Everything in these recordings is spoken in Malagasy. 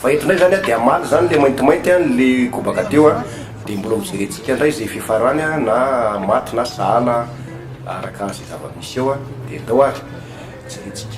Fa eto ndray zany an, dia hamaly zany le maintimainty an, le kobaka teo an, dia mbola hojerentsika ndray izay fiafarany an, na maty na sahala araka izay zava-misy eo an, dia ndao ary jerentsika.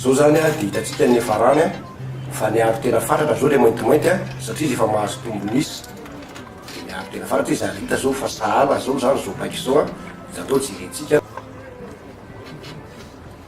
Zao zany dia hitantsika ny farany fa ny aro tena fatratra zao ilay maintimainty satria izy efa mahazo tombony izy dia ny aro tena fatratra izy ary hita zao fa sahala zao zany zao paika izao dia atao jerentsika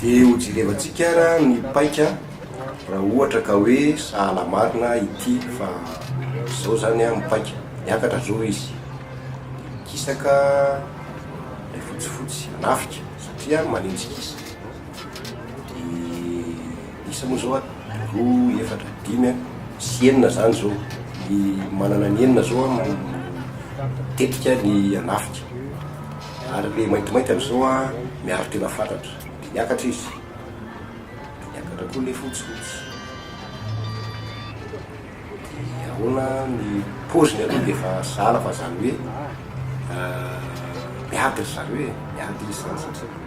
Dia ho jerevantsika ara ny paika raha ohatra ka hoe sahala marina ity fa zao zany an ny paika, miakatra zao izy dia mikisaka ilay fotsifotsy, hanafika satria an manenjikisa dia. Isa moa zao an, roa, efatra, dimy an, sy enina zany zao, ny manana ny enina zao an mitetika ny hanafika, ary le maintimainty amizao an miaro tena fatratra, de miakatra izy, de miakatra koa le fotsifotsy, de ahoana ny poziny aloha de efa sahala fa zany hoe miady ry zareo e, miady izy zany satria.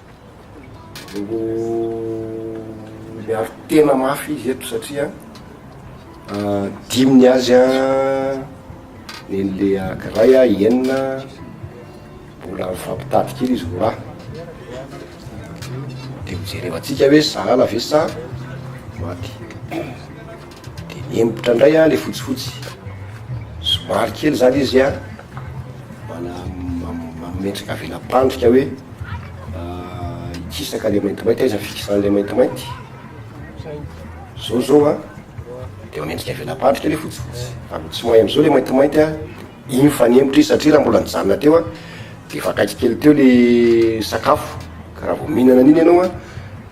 no miaro tena mafy izy eto satria dimy ny azy a neny le akiray a enina mbola mifampitady kely izy vola de mijerevantsika hoe salala ve sa maty Dia nihemotra indray an le fotsifotsy. Somary kely izany izy an, manome endrika vela-pandrika hoe hikisaka le maintimainty, aiza ny fikisan'ilay maintimainty? Zao zao an, dia manendrika vela-pandrika le fotsifotsy, fa tsy mahay am'zao le maintimainty an. Iny fanempotra iny satria raha mbola nijanona teo aho dia efa akaiky kely teo le sakafo ka raha vao mihinana an'iny ianao an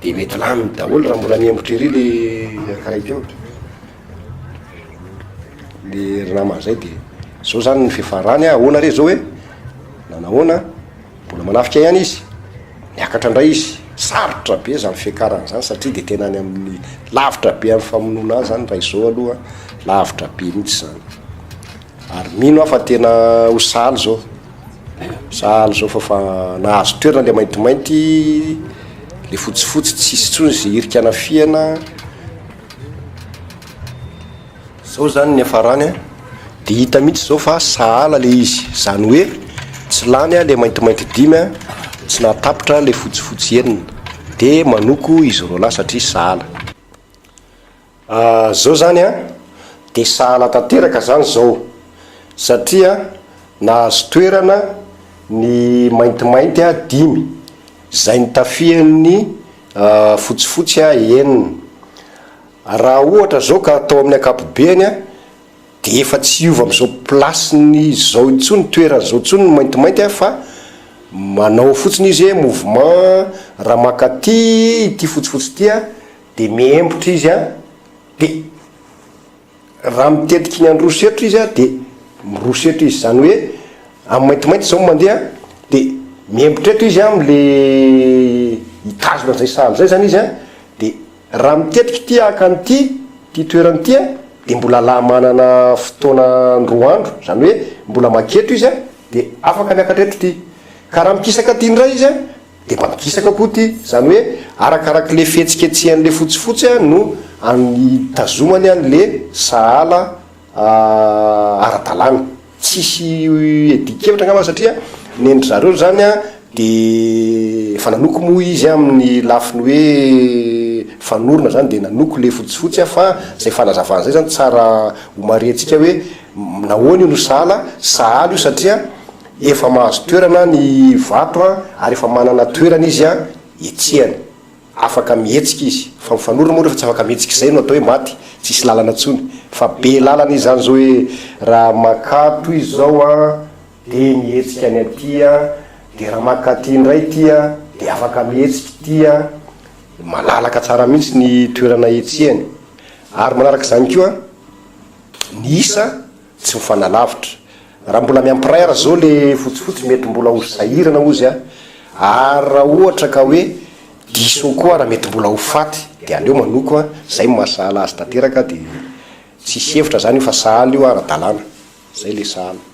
dia mety lany daholo raha mbola niempotra ery le ankiray teo le ry namana zay dia zao zany ny fiafarany an ahoana re zao e na nahoana mbola manafika ihany izy niakatra indray izy sarotra be zany fiakarany zany satria dia tena any amin'ny lavitra be amin'ny famonoana ahy zany raha izao aloha lavitra be mihitsy zany Ary mino aho fa tena ho sahala izao, sahala izao fa fa nahazo toerana ilay maintimainty, ilay fotsifotsy tsisy intsony izay hirika anafihana, izao izany niafarany a, dia hita mihitsy izao fa sahala ilay izy, izany hoe tsy lany ilay maintimainty dimy a, tsy nahatapitra ilay fotsifotsy enina, dia manoko izy roalahy satria sahala. Ah zao zany an de sahala tanteraka zany zao satria nahazo toerana ny maintimainty a dimy, zay nitafian'ny fotsifotsy a enina. Raha ohatra zao ka atao amin'ny ankapobeany a de efa tsy hiova amin'izao place-ny zao intsony, toerany zao intsony ny maintimainty a fa manao fotsiny izy hoe mouvement raha maka aty ity fotsifotsy ity a Dia mihemotra izy an, dia raha mitetika iny handroso erotra izy an, dia miroso erotra izy, izany hoe amin'ny maintimainty izao no mandeha, dia mihemotra eto izy an, amin'ilay hitazona an'izay saha amin'izay izany izy an, dia raha mitetika ity haka an'ity, ity toerana ity an, dia mbola la manana fotoana an-droa andro, izany hoe mbola makety izy an, dia afaka miakatra eto ity. Ka raha mikisaka aty indray izy an. Dia mampikisaka koa ity, izany hoe arakarak'ilay fihetsiketsehan'ilay fotsifotsy no itazomany an'ilay sahala ara-dalàna. Tsisy dikevitra angamba satria ny an-dry zareo izany dia efa nanoko moa izy amin'ny lafiny hoe fanorona izany dia nanoko ilay fotsifotsy fa izay fanazavana izay izany tsara homarihantsika hoe nahoana io no sahala, sahala io satria. Efa mahazo toerana ny vato ary efa manana toerana izy hietsehany. Afaka mihetsika izy. Fa mifanorona moa rehefa tsy afaka mihetsika izay no atao hoe maty, tsisy lalana intsony. Fa be lalana izy izany izao hoe raha makato izy izao dia mihetsika any aty, dia raha maka aty indray ity dia afaka mihetsika ity. Malalaka tsara mihitsy ny toerana hetsehany. Ary manaraka izany koa ny isa. Tsy mifanalavitra. Raha mbola miampiraha ry zo le fotsifotsy mety mbola ho sahirana ozy a! ary raha ohatra ka hoe diso koa ary mety mbola ho faty de aleo manoko a! zay no maha sahala azy tanteraka de tsisy hevitra zany io fa sahala io ara dalàna! zay le sahala.